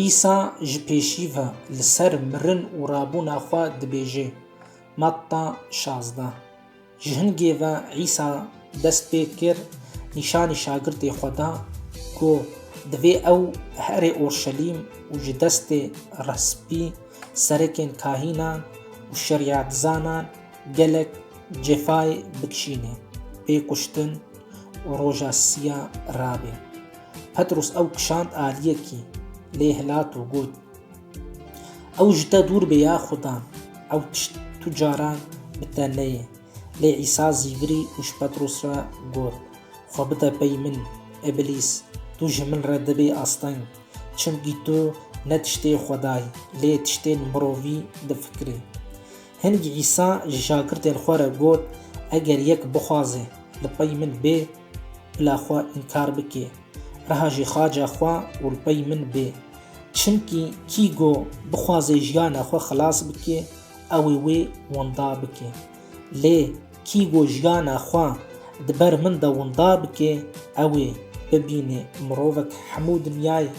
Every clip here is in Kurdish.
Îsa ji pêşî ve li ser mirin û rabûna xwe dibêje, Matta şazdeh. Ji hingê ve Îsa dest pê kir nîşanî şagirtê xwe da ku divê ew here Orşelîm û ji destê resbî serekên kahînan û şerîetzanan gelek cefayê bikişîne, pê kuştin û roja siya rabe. Petrûs ew kişand aliyekî, lê hilat û got, Ew ji te dûr bê ya Xuda, ew tişt tu caran bi te neyê. Lê Îsa zî virî û ji Petrûs re got, Xwe bide pey min, îblîs, tu ji min re dibî asteng, çimkî tu ne tiştê Xwedayî, lê tiştên mirovî difikirî. Hingî Îsa ji şagirdên xwe re got, Eger yek bixwaze li pey min bê, Bila xwe înkar bikê. Reha jî xaca xwe û li pey min bê. Çimkî kî go bixwaze jiyana xwe xilas bikê, ew ê wê winda bikê. Lê kî go jiyana xwe di ber min de winda bikê, ew ê bibînê mirovek hemû dinyayê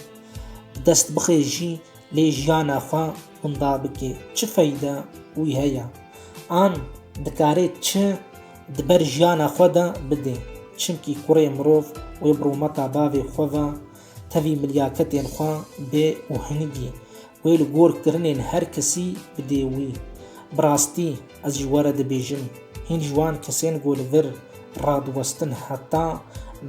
bi dest bixê jî lê jiyana xwe winda bikê çi feyde wî heye? An dikarê çi Di ber jiyana xwe de bidê. Çimkî kurê mirov wê bi rûmeta bavê xwe ve tevî milyaketên xwe bê û hinigî wê li gor kirinên her kesî bidê wî. Bi rastî ez ji were dibêjim, hîn ji wan kesên ku li vir radiwestin heta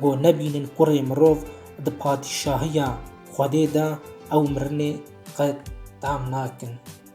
ku nebînin kurê mirov di patîşahiya Xwedê de ew mirinê qet tam nakin.